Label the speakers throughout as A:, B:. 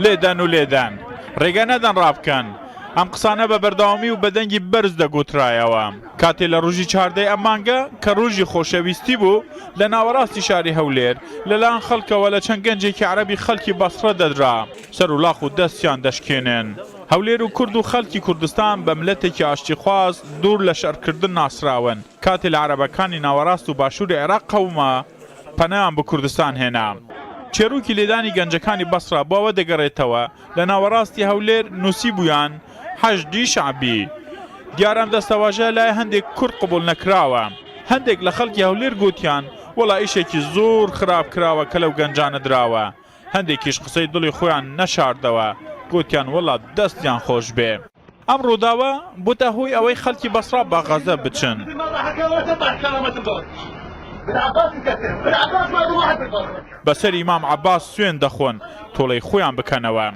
A: لێدان و لێدان ڕێگە نەدەن ڕابکەن ئەم قسانە بە بەردەوامی و بەدەنگی بەرز دەگوترایەوە کاتێ لە ڕژی چاردەی ئەمانگە کە ڕژی خۆشەویستی بوو لە ناوەڕاستی شاری هەولێر لەلاان خەڵکەوە لە چەند گەنجێکی عربی خەڵکی بەسڕە دەدرا سەر و لاخ و دەستیان دەشکێنن هەولێر و کورد و خەلکی کوردستان بە ملەتێکی ئاشتیخواز دوور لە شەرکردن ناسراون کاتێ لە عەرەبەکانی ناوەراست و باشوری عێراق قەوما، پەنایان بۆ کوردستان هێنا. چێروکی لێدانی گەنجەکانی بەسڕە بۆ ئەوە دەگەرێتەوە، لە ناوەراستی هەولێر نوسیبویان، حەشدی شەعبی. دیارە ئەم دەستەواژە لای هەندێک کورد قبوڵ نەکراوە. هەندێک لە خەڵکی هەولێر گۆتیان، وەڵا ئیشێکی زۆر خراپ کراوە کە لەو گەنجانە دراوە. هەندێکیش قسەی دڵی خۆیان نەشاردەوە، گۆتیان وەڵا دەستیان خۆشبێ. ئەم ڕووداوە بووتە هۆی ئەوەی خەڵکی بەسڕا بە غەزە بچن. بەسەری مام عەباس سوێن دەخۆن تۆڵەی خۆیان بکەنەوە.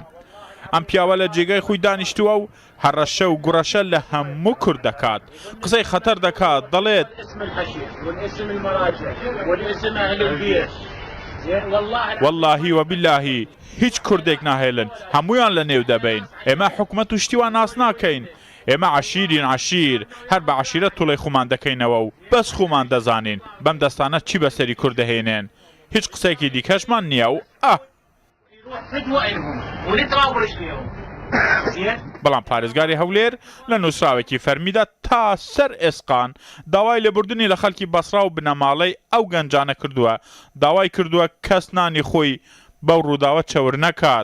A: ئەم پیاوە لە جێگای خۆی دانیشتووە و هەڕەشە و گوڕەشە لە هەموو کورد دەکات قسەی خەتەر دەکات دەڵێت واللهی وباللهی هیچ کوردێک ناهێلن هەموویان لە نێو دەبەین ئێمە حکومەت و شتی وا ناس ناکەین ئێمە عەشیرین عەشیر هەر بە عەشیرەت توڵەی خومان دەکەینەوە و بەس خومان دەزانین بەم دەستانە چی بەسەری کورد دەهێنێن هیچ قسەیەکی دیکەشمان نیە و ئە بەڵام پارێزگاری هەولێر لە نووسراوێکی فەرمیدا تا سەر ئێسقان داوای لێبوردنی لە خەلکی بەسڕا و بنەماڵەی ئەو گەنجانە کردووە داوای کردووە کەس نانی خۆی بەو رووداوە چەور نەکات.